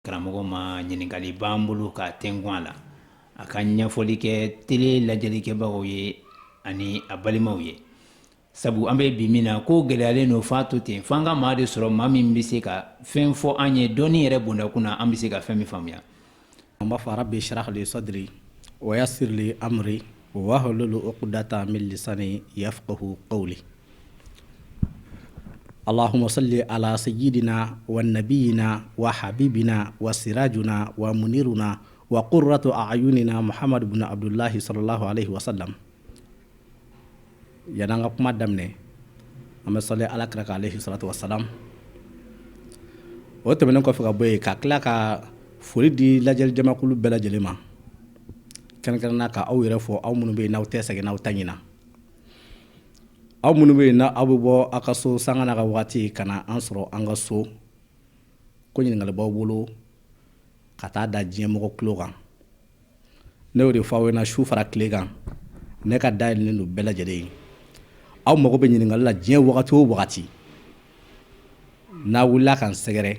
karamɔgɔ ma ɲininkali b'an bolo k'a tɛnkun a la a ka ɲɛfɔli kɛ tele lajɛlikɛbagaw ye ani a balimaw ye sabu an bɛ bi min na ko gɛlɛyalen don f'a to ten f'an ka maa de sɔrɔ maa min bɛ se ka fɛn fɔ an ye dɔɔnin yɛrɛ bondakun na an bɛ se ka fɛn min faamuya an b'a fɔ rabbi shrah li sadri wa yassir li amri wahlul uqdatan min lisani yafqahu qawli Allahumma salli ala sayyidina wa nabiyyina wa habibina wa sirajuna wa muniruna wa qurratu a'yunina muhamadu bnu abdullahi sallallahu alayhi wasallam yann'an ka kuma daminɛ an bɛ sali ala kira kan alayhi salatu wassalam o tɛmɛnen kɔfɛ ka bɔ yen ka tila ka foli di lajɛli jamakulu bɛɛ lajɛlen ma kɛrɛnkɛrɛnna ka aw yɛrɛ fo aw minnu bɛ yen n'aw tɛ sɛgɛn n'aw tɛ ɲina Aw minnu bɛ yen n' aw bɛ bɔ a ka so sanga n'a ka waati ka na an sɔrɔ an ka so ko ɲininkali b'aw bolo ka taa da diɲɛmɔgɔ tulo kan ne y'o de fɔ aw ɲɛna su fara tile kan ne ka da yɛlɛlen don bɛɛ lajɛlen ye aw mago bɛ ɲininkali la diɲɛ wagati o wagati n'a wulila ka n sɛgɛrɛ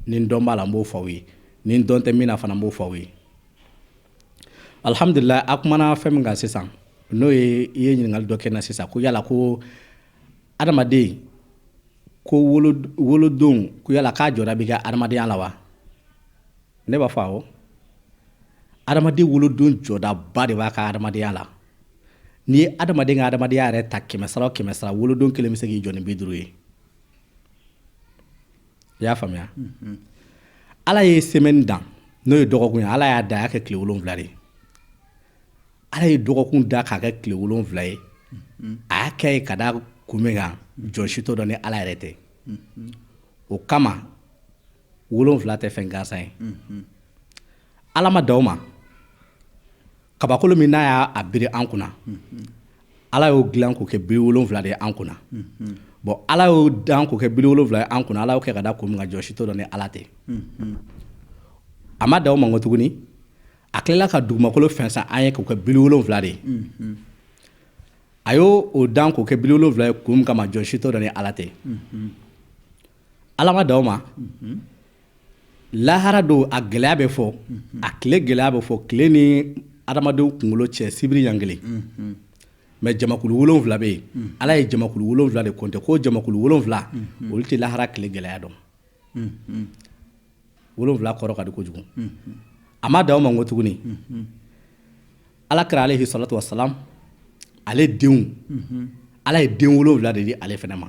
ni n dɔn b'a la n b'o fɔ aw ye ni n dɔn tɛ min na fana n b'o fɔ aw ye Alihamdulilayi a kumana fɛn min kan sisan n'o ye i ye ɲininkali dɔ kɛ n na sisan ko yala ko adamaden ko wolodon ko yala k'a jɔda bɛ kɛ adamadenya la wa ne b'a fɔ awɔ adamaden wolodon jɔdaba de b'a ka adamadenya la n'i ye adamaden ka adamadenya yɛrɛ ta kɛmɛsara o kɛmɛsara wolodon kelen bɛ se k'i jɔ ni bi duuru ye i y'a faamuya ala ye semaine dan n'o ye dɔgɔkun ye ala y'a da a y'a kɛ tile wolonwula de ala ye dɔgɔkun da k'a kɛ tile wolonwula ye a y'a kɛ ye ka da kun min kan jɔn si t'o dɔn ni ala yɛrɛ tɛ o kama wolonwula tɛ fɛn gansan ye ala ma dan o ma Kabakolo min n'a y'a biri an kunna ala y'o dilan k'o kɛ biri wolonwula de ye an kunna bon ala y'o dan k'o kɛ biri wolonwula ye an kunna ala y'o kɛ ka da kun min kan jɔn si t'o dɔn ni ala tɛ a ma dan o ma ko tuguni a tilala ka dugumakolo fɛnsɛn an ye k'o kɛ biri wolonwula de ye a y'o o dan k'o kɛ biri wolonwula ye kun min kama jɔn si t'o dɔn ni ala tɛ Ala ma dan o ma lahara don a gɛlɛya bɛ fɔ a tile gɛlɛya bɛ fɔ tile ni adamadenw kunkolo cɛ sibiri ɲa kelen mais jamakulu wolonwula bɛ yen ala ye jamakulu wolonwula de compter ko jamakulu wolonwula olu tɛ lahara tile gɛlɛya dɔn wolonwula kɔrɔ ka di kojugu a ma dan o ma ko tuguni ala kira alayhi salatu wassalam ale denw ala ye den wolonwula de di ale fana ma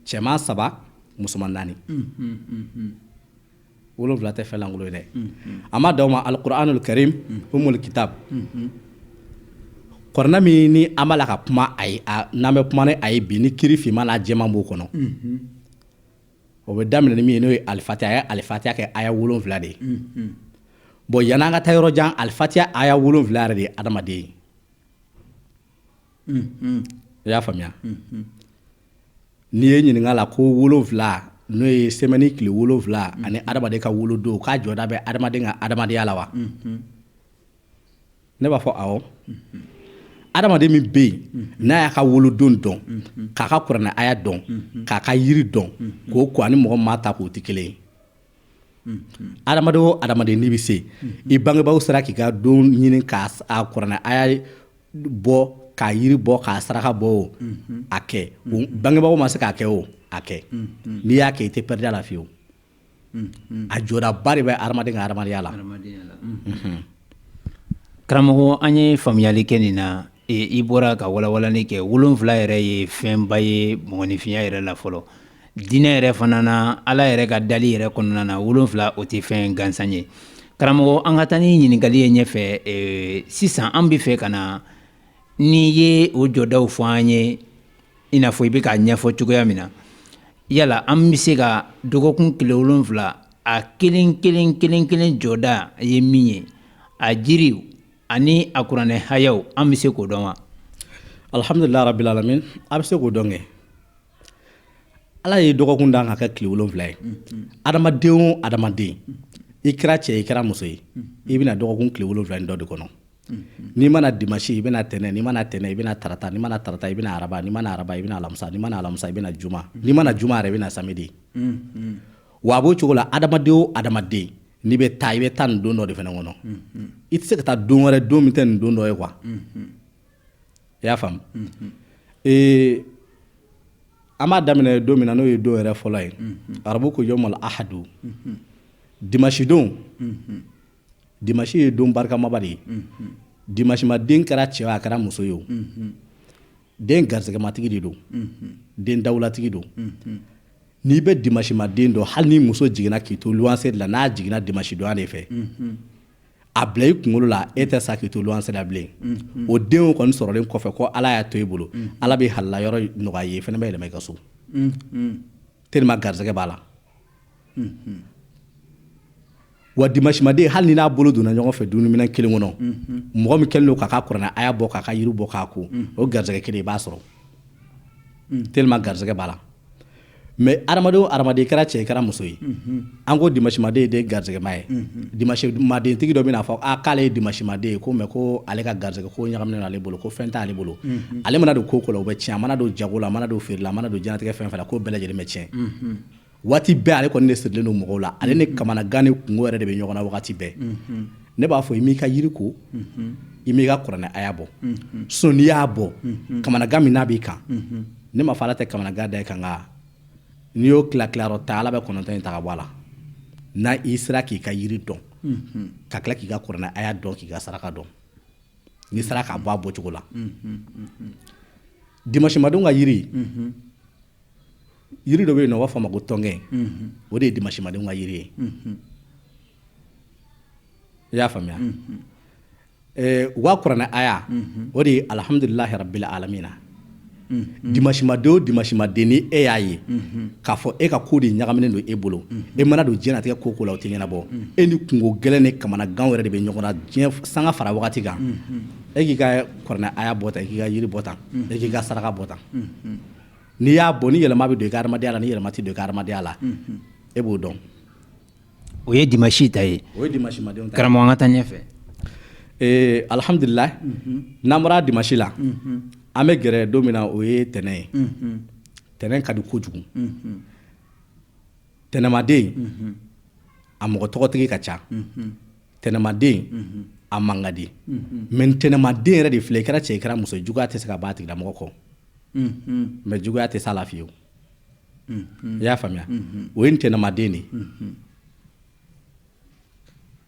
cɛman saba musoman naani wolonwula tɛ fɛn lankolon ye dɛ a ma dan o ma alikuranul karim umul kitab kɔrɔna min ni an b'a la ka kuma a ye n'an bɛ kuma ni a ye bi ni kiri finman n'a jɛman b'o kɔnɔ o bɛ daminɛ ni min ye n'o ye alifatiya a ye alifatiya kɛ aya wolonwula de ye bon yan'an ka taa yɔrɔ jan alifatiya aya wolonwula yɛrɛ de ye adamaden ye i y'a faamuya n'i ye ɲininka la ko wolonwula n'o ye sɛmɛni tile wolonwula ani adamaden ka wolodon k'a jɔda bɛ adamaden ka adamadenya la wa ne b'a fɔ awɔ adamaden min bɛ yen n'a y'a ka wolodon dɔn k'a ka kuranɛ aya dɔn k'a ka yiri dɔn k'o k'o ani mɔgɔ min m'a ta k'o tɛ kelen ye adamaden o adamaden n'i bɛ se i bangebaw sera k'i ka don ɲini k'a kuranɛ aya bɔ k'a yiri bɔ k'a saraka bɔ o a kɛ bangebaw ma se k'a kɛ o a kɛ n'i y'a kɛ i tɛ pɛrɛdi a la fiyewu a jɔdaba de bɛ adamaden ka adamadenya la karamɔgɔ an ye faamuyali kɛ nin na i bɔra ka walawalani kɛ wolonwula yɛrɛ ye fɛnba ye mɔgɔninfinya yɛrɛ la fɔlɔ diinɛ yɛrɛ fana na ala yɛrɛ ka dali yɛrɛ kɔnɔna na wolonwula o tɛ fɛn gansan ye karamɔgɔ an ka taa ni ɲininkali ye ɲɛfɛ sisan an bɛ fɛ ka na n'i ye o jɔdaw fɔ an ye i n'a fɔ i bɛ k'a ɲɛfɔ cogoya min na yala an bɛ se ka dɔgɔkun tile wolonwula a kelen kelen kelen kelen jɔda ye min ye a jiriw ani a kuranɛ hayaw an bɛ se k'o dɔn wa alihamdulila rabil alamin a bɛ se k'o dɔn kɛ Ala ye dɔgɔkun dan ka kɛ tile wolonwula ye adamaden o adamaden i kɛra cɛ i kɛra muso ye i bɛ na dɔgɔkun tile wolonwula dɔ de kɔnɔ n'i ma na dimasi i bɛ na tɛnɛn n'i ma na tɛnɛn i bɛ na tarata n'i ma na tarata i bɛ na araba n'i ma na araba i bɛ na alamisa n'i ma na alamisa i bɛ na juma n'i ma na juma yɛrɛ i bɛ na samedi wa a b'o cogo la adamaden o adamaden n'i bɛ taa i bɛ taa nin don dɔ de fana kɔnɔ i tɛ se ka taa don wɛrɛ don min tɛ nin don dɔ ye wa i y'a faamu ee an b'a daminɛ don min na n'o ye don yɛrɛ fɔlɔ ye arabu ko yawmal ahadu dimasidon dimasi ye don barikamaba de ye dimasima den kɛra cɛ a kɛra muso ye o den garisɛgɛmatigi de don den dawulatigi don n'i bɛ dimasima den dɔn hali ni muso jiginna k'i to luwanse de la n'a jiginna dimasidonya de fɛ a bila i kunkolo la e tɛ sa k'i to luwanse la bilen o denw kɔni sɔrɔlen kɔfɛ ko ala y'a to i bolo ala bɛ halala yɔrɔ nɔgɔya i ye fana bɛ yɛlɛma i ka so tellement garisɛgɛ b'a la wa dimasimaden hali ni n'a bolo donna ɲɔgɔn fɛ dumuniminɛn kelen kɔnɔ mɔgɔ min kɛlen don k'a ka kuranɛ aya bɔ k'a ka yiri bɔ k'a ko o garisɛgɛ kelen i b'a sɔrɔ tellement garisɛgɛ b'a la Mais adamaden o adamaden i kɛra cɛ i kɛra muso ye an ko dimasimaden ye den garisɛgɛma ye dimasimadentigi dɔ bɛna a fɔ k'ale ye dimasimaden ye ko mais ko ale ka garisɛgɛ ko ɲagaminen ale bolo ko fɛn t'ale bolo ale mana don ko o ko la o bɛ tiɲɛ a mana don jago la a mana don feere la a mana don diɲɛlatigɛ fɛn o fɛn la ko bɛɛ lajɛlen bɛ tiɲɛ waati bɛɛ ale kɔni de sirilen don mɔgɔw la ale ni kamanagan ni kungo wɛrɛ de bɛ ɲɔgɔn na waati bɛɛ ne b'a fɔ i m'i ka yiri ko i m'i ka kuranɛ aya bɔ sinon n'i y'a bɔ kamanagan min n'a b'i kan ne m'a fɔ ala tɛ kamanagan da i kan nka n'i y'o tila tilayɔrɔ tan ala bɛ kɔnɔntɔn in ta ka bɔ a la n'a i sera k'i ka yiri dɔn ka tila k'i ka kuranɛ aya dɔn k'i ka saraka dɔn n'i sera k'a bɔ a bɔcogo la dimasimadenw ka yiri yiri dɔ bɛ yen n'u b'a fɔ a ma ko tɔnkɛ o de ye dimasimadenw ka yiri ye i y'a faamuya Wa kuranɛ aya o de ye alihamdulilahi rabili alamina dimasimaden o dimasimaden ni e y'a ye k'a fɔ e ka ko de ɲagaminen don e bolo e mana don diɲɛlatigɛ ko o ko la o tɛ ɲɛnabɔ e ni kungo gɛlɛn ni kamanagan wɛrɛ de bɛ ɲɔgɔn na dɛ sanga fara wagati kan e k'i ka kuranɛ aya bɔ tan e k'i ka yiri bɔ tan e k'i ka saraka bɔ tan n'i y'a bɔ ni yɛlɛma bɛ don i ka adamadenya la ni yɛlɛma tɛ don i ka adamadenya la e b'o dɔn o ye dimasi ta ye o ye dimasimadenw ta ye karamɔgɔ an ka taa ɲɛfɛ alihamdulilayi n'an bɔra dimasi la an bɛ gɛrɛ don min na o ye tɛnɛn ye tɛnɛn ka di kojugu tɛnɛnmaden a mɔgɔ tɔgɔtigi ka ca tɛnɛnmaden a man ka di mais tɛnɛnmaden yɛrɛ de filɛ i kɛra cɛ i kɛra muso juguya tɛ se ka bɔ a tigilamɔgɔ kɔ mais juguya tɛ s'a la fiyewu i y'a faamuya o ye ntɛnɛmaden de ye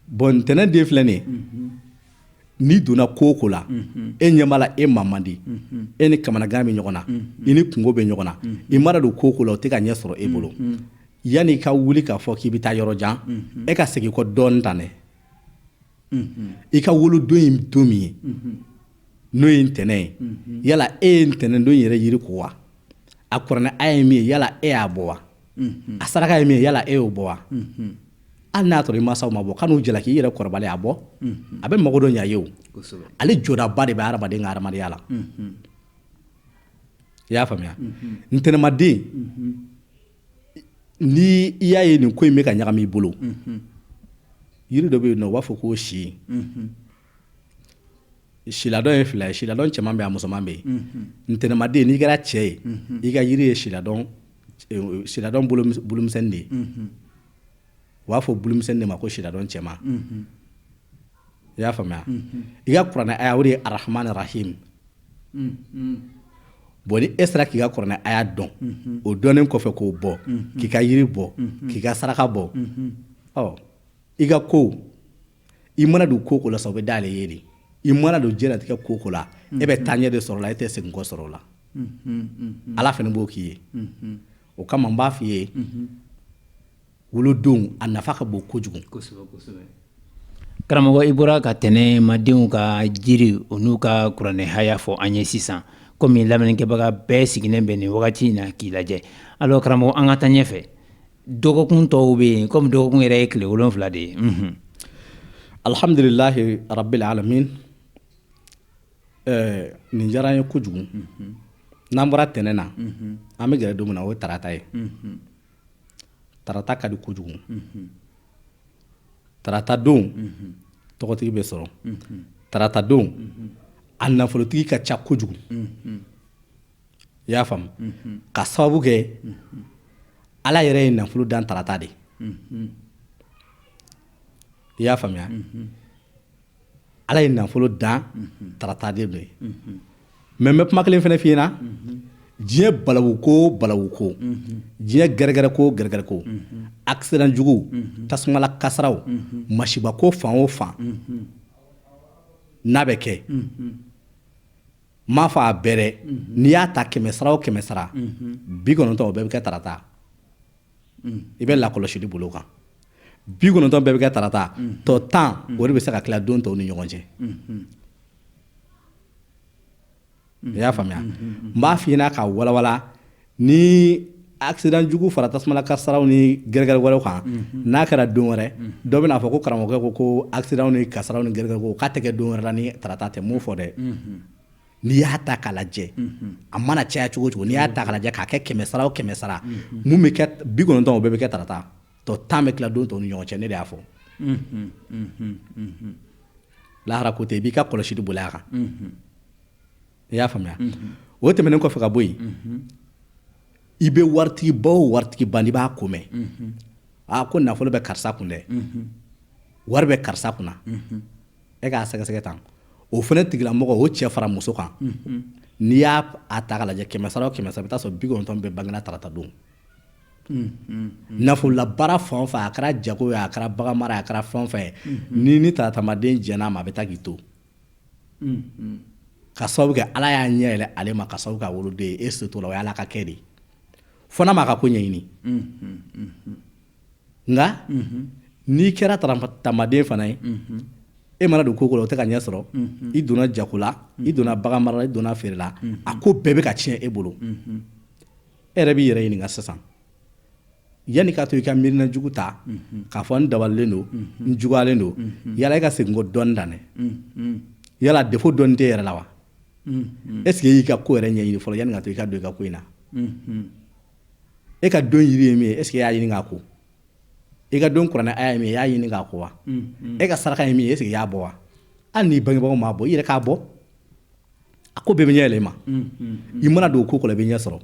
bon ntɛnɛn den filɛ nin ye n'i donna ko o ko la e ɲɛ b'a la e man man di e ni kamanagan bɛ ɲɔgɔn na i ni kungo bɛ ɲɔgɔn na i mana don ko o ko la o tɛ ka ɲɛ sɔrɔ e bolo yanni i ka wuli k'a fɔ k'i bɛ taa yɔrɔ jan e ka segin kɔ dɔɔnin tan dɛ i ka wolodon in don min ye n'o ye ntɛnɛn ye yala e ye ntɛnɛn don yɛrɛ yiri ko wa a kuranɛ aya ye min ye yala e y'a bɔ wa a saraka ye min ye yala e y'o bɔ wa hali n'a y'a sɔrɔ i mansaw m'a bɔ kan'u jalaki i yɛrɛ kɔrɔbalen a bɔ a bɛ mago dɔ ɲa i ye o ale jɔdaba de bɛ hadamaden ka hadamadenya la i y'a faamuya ntɛnɛmaden Ni i y'a ye nin ko in bɛ ka ɲagami i bolo yiri dɔ bɛ yen u b'a fɔ ko si siladɔn ye fila ye siladɔn cɛman bɛ yen a musoman bɛ yen ntɛnɛnmaden n'i kɛra cɛ ye i ka yiri ye siladɔn bulumisɛn de ye u b'a fɔ bulumisɛn de ma ko siladɔn cɛman i y'a faamuya i ka kuranɛ aya o de ye arahama arahimi bon ni e sera k'i ka kuranɛ aya dɔn o dɔnnen kɔfɛ k'o bɔ k'i ka yiri bɔ k'i ka saraka bɔ ɔ i ka ko i mana don ko o ko la sa o bɛ dayɛlɛ e ye de i mana don diɲɛlatigɛ ko o ko la e bɛ taaɲɛ de sɔrɔ o la e tɛ seginkɔ sɔrɔ o la ala fana b'o k'i ye o kama n b'a f'i ye wolodon a nafa ka bon kojugu karamɔgɔ i bɔra ka tɛnɛnmadenw ka jiri o n'u ka kuranɛ haya fɔ an ye sisan kɔmi lamɛnnikɛbaga bɛɛ sigilen bɛ nin wagati in na k'i lajɛ alors karamɔgɔ an ka taa ɲɛfɛ dɔgɔkun tɔw bɛ yen kɔmi dɔgɔkun yɛrɛ ye tile wolonfila de ye alihamdulilahi rabili alamina nin diyara n ye kojugu n'an bɔra tɛnɛn na an bɛ gɛrɛ don min na o ye tarata ye tarata ka di kojugu tarata don tɔgɔtigi bɛ sɔrɔ tarata don a nafolotigi ka ca kojugu i y'a faamu ka sababu kɛ ala yɛrɛ ye nafolo dan tarata de i y'a faamuya ala ye nafolo dan tarata de don mɛ n bɛ kuma kelen fɛnɛ f'i ɲɛna diɲɛ balawu ko balawu ko diɲɛ gɛrɛgɛrɛ ko gɛrɛgɛrɛ ko accident jugu tasumala kasaraw masiba ko fan o fan n'a bɛ kɛ n m'a fɔ a bɛɛ dɛ n'i y'a ta kɛmɛ sara o kɛmɛ sara bi kɔnɔntɔn o bɛɛ bɛ kɛ tarata i bɛ lakɔlɔsili boli o kan bi kɔnɔntɔn bɛɛ bɛ kɛ tarata tɔ tan o de bɛ se ka tila don tɔw ni ɲɔgɔn cɛ i y'a faamuya n b'a f'i ɲɛna k'a walawala ni accident jugu fara tasumala kasaraw ni gɛrɛgɛrɛ wɛrɛw kan n'a kɛra don wɛrɛ dɔ bɛn'a fɔ ko karamɔgɔkɛ ko ko accident ni kasaraw ni gɛrɛgɛrɛw k'a tɛ kɛ don wɛrɛ la ni tarata tɛ n m'o fɔ dɛ n'i y'a ta k'a lajɛ a mana caya cogo o cogo n'i y'a ta k'a lajɛ k'a kɛ kɛmɛ sara o kɛmɛ sara mun bɛ kɛ bi kɔnɔntɔn o bɛɛ bɛ kɛ tarata tɔ tan bɛ tila don tɔw ni ɲɔgɔn cɛ ne de y'a fɔ lahara ko tɛ i b'i ka kɔlɔsili boli a kan i y'a faamuya o tɛmɛnen kɔfɛ ka bɔ yen i bɛ waritigiba o waritigiba n'i b'a ko mɛn aa ko nafolo bɛ karisa kun dɛ wari bɛ karisa kunna e k'a sɛgɛsɛgɛ tan o fana tigilamɔgɔ o cɛ fara muso kan n'i y'a ta k'a lajɛ kɛmɛ sara o kɛmɛ sara i bɛ taa sɔrɔ bi kɔnɔntɔn bɛɛ bangena tarata don nafolola baara fan o fan a kɛra jago ye a kɛra bagan mara a kɛra fɛn o fɛn ye ni taratamaden jɛn'a ma a bɛ taa k'i to ka sababu kɛ ala y'a ɲɛ yɛlɛ ale ma ka sababu k'a wolodon ye e se t'o la o y' ala ka kɛ de fo n'a m'a ka ko ɲɛɲini nka n'i kɛra taratamaden fana ye e mana don ko o ko la o tɛ ka ɲɛ sɔrɔ i donna jago la i donna bagan mara la i donna feere la a ko bɛɛ bɛ ka tiɲɛ e bolo e yɛrɛ b'i yɛrɛ ɲininka sisan yanni k'a to i ka miirina jugu ta k'a fɔ n dabalilen don n juguyalen don yala e ka segin kɔ dɔɔni dan yala defo dɔɔni tɛ yɛrɛ la wa eseke e y'i ka ko yɛrɛ ɲɛɲini fɔlɔ yanni k'a to i ka don i ka ko in na e ka don yiri ye min ye eseke e y'a ɲini k'a ko i ka don kuranɛ aya ye min ye i y'a ɲini k'a ko wa e ka saraka ye min ye eseke i y'a bɔ wa hali n'i bangebagaw m'a bɔ i yɛrɛ k'a bɔ a ko bɛɛ bɛ ɲɛ yɛlɛ i ma i mana don ko o ko la i bɛ ɲɛ sɔrɔ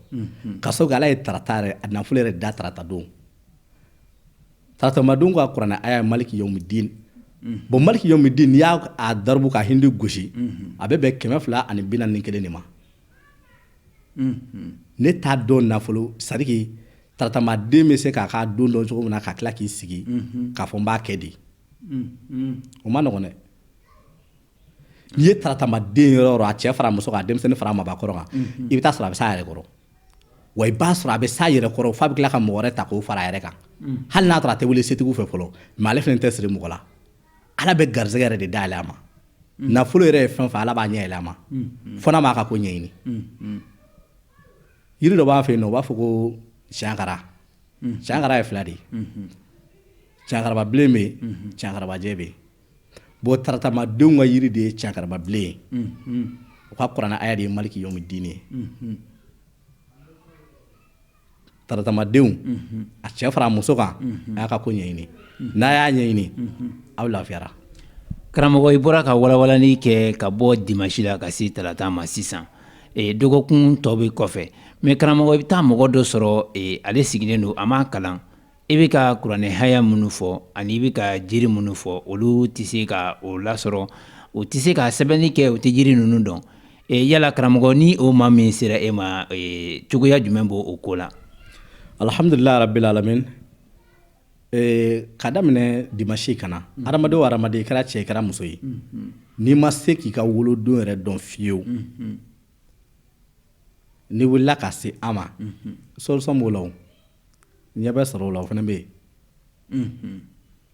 ka sababu kɛ ala ye tarata yɛrɛ a nafolo yɛrɛ da tarata don taratamadenw ka kuranɛ aya ye maliki yawmidin bɔn maliki yawmidin n'i y'a daribu ka hindi gosi a bɛ bɛn kɛmɛ fila ani bi naani ni kelen de ma ne t'a dɔn nafolo sariki taratamaden bɛ se k'a ka don dɔn cogo min na ka tila k'i sigi k'a fɔ n b'a kɛ di o ma nɔgɔ dɛ n'i ye taratamaden yɔrɔ o yɔrɔ a cɛ fara muso kan a denmisɛnnin fara mabakɔrɔ kan i bɛ taa sɔrɔ a bɛ s'a yɛrɛ kɔrɔ wa i b'a sɔrɔ a bɛ s'a yɛrɛ kɔrɔ f'a bɛ tila ka mɔgɔ wɛrɛ ta k'o fara a yɛrɛ kan hali n'a sɔrɔ a tɛ wele setigiw fɛ fɔlɔ mɛ ale fana tɛ siri mɔgɔ la ala bɛ garisɛgɛ yɛrɛ de dayɛlɛ a ma mm. nafolo yɛrɛ ye fɛn o fɛn ala b'a ɲɛ yɛlɛ a ma mm, mm. fo n'a m'a ka ko ɲɛɲini yiri dɔ b'an fɛ yen nɔ u b'a fɔ ko siyankara siyankara ye fila de ye mm-hmm. siyankarababilen bɛ mm-hmm. siyankarabajɛ bɛ bɔn taratamadenw ka yiri de ye siyankarababilen ye mm-hmm. u ka kuranɛ aya de ye maliki yawmidini ye taratamadenw a cɛ fara muso kan a y'a ka ko ɲɛɲini n'a y'a ɲɛɲini aw lafiyara karamɔgɔ i bɔra ka walawalani kɛ ka bɔ dimasi la ka se tarata ma sisan dɔgɔkun tɔ bɛ kɔfɛ mɛ karamɔgɔ i bɛ taa mɔgɔ dɔ sɔrɔ ale sigilen don a ma kalan I bɛ ka kuranɛ haya minnu fɔ ani i bɛ ka jiri minnu fɔ olu tɛ se ka o lasɔrɔ u tɛ se ka sɛbɛnni kɛ u tɛ jiri ninnu dɔn yala karamɔgɔ ni o maa min sera e ma cogoya jumɛn b'o ko la alihamdulilahi rabilalamin ka daminɛ dimasi ka na hadamaden o hadamaden i kɛra cɛ i kɛra muso ye n'i ma se k'i ka wolodon yɛrɛ dɔn fiyewu n'i wulila ka se an ma solusɔn b'o la ɲɛ bɛ sɔrɔ o la o fana bɛ yen mm-hmm.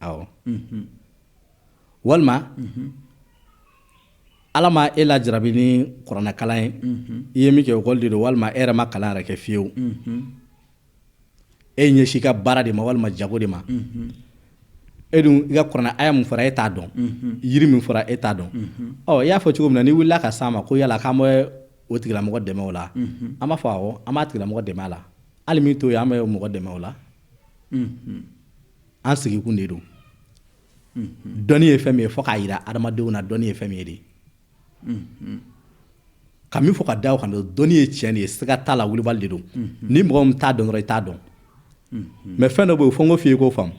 awɔ mm-hmm. walima mm-hmm. ala ma e lajarabi ni kuranɛkalan ye i ye min kɛ ekɔli de don walima e yɛrɛ ma kalan yɛrɛ kɛ fiyewu e ɲɛsi ka baara de ma walima jago de ma e dun i ka kuranɛ aya min fɔra e t'a dɔn yiri min fɔra e t'a dɔn ɔ i y'a fɔ cogo min na n'i wulila ka s'an ma ko yala k'an bɛ o tigilamɔgɔ dɛmɛ o la an b'a fɔ awɔ an b'a tigilamɔgɔ dɛmɛ a la hali min t'o ye an bɛ mɔgɔ dɛmɛ o la an sigikun de don dɔnni ye fɛn min ye fo k'a jira adamadenw na dɔnni ye fɛn min ye de ka min fɔ ka da o kan dɔnni ye tiɲɛ de ye siga t'a la wulibali de don ni mɔgɔ min t'a dɔn dɔrɔn i t'a dɔn mɛ fɛn dɔ bɛ yen fo n k'o f'i ye k'o faamu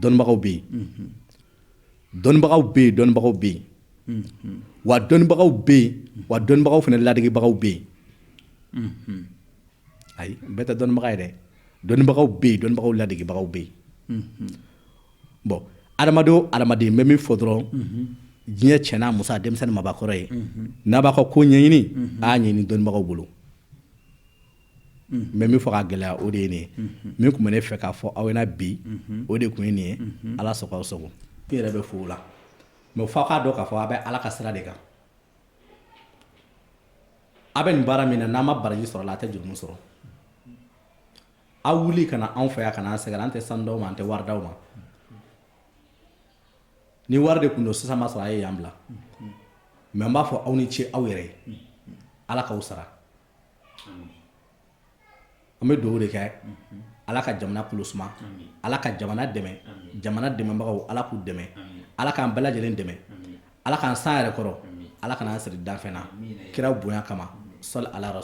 dɔnnibagaw bɛ yen dɔnnibagaw bɛ yen dɔnnibagaw bɛ yen wa dɔnnibagaw bɛ yen wa dɔnnibagaw fana ladegibagaw bɛ yen ayi bɛɛ tɛ dɔnnibaga ye dɛ dɔnnibagaw bɛ yen dɔnnibagaw ladegibagaw bɛ yen bɔn adamaden o adamaden n bɛ min fɔ dɔrɔn diɲɛ cɛ n'a muso a denmisɛnnin mabakɔrɔ ye n'a b'a ka ko ɲɛɲini a y'a ɲini dɔnnibagaw bolo n bɛ min fɔ ka gɛlɛya o de ye nin ye min tun bɛ ne fɛ k'a fɔ aw ɲɛna bi o de tun ye nin ye ala sago aw sago e yɛrɛ bɛ fo o la mɛ f'a k'a dɔn k'a fɔ a bɛ ala ka sira de kan aw bɛ nin baara min na n'an ma baraji sɔrɔ a la a tɛ jurumu sɔrɔ aw wuli ka na anw fɛ yan ka na an sɛgɛn an tɛ sanu d'aw ma an tɛ wari d'aw ma ni wari de tun don sisan ma sɔrɔ a ye yan bila mɛ n b'a fɔ aw ni ce aw yɛrɛ ye ala k'aw sara An bɛ dugawu de kɛ ala ka jamana kulu suma ala ka jamana dɛmɛ jamana dɛmɛbagaw ala k'u dɛmɛ ala k'an bɛɛ lajɛlen dɛmɛ ala k'an san yɛrɛ kɔrɔ ala kana an siri danfɛn na kira bonya kama sɔli ala rasul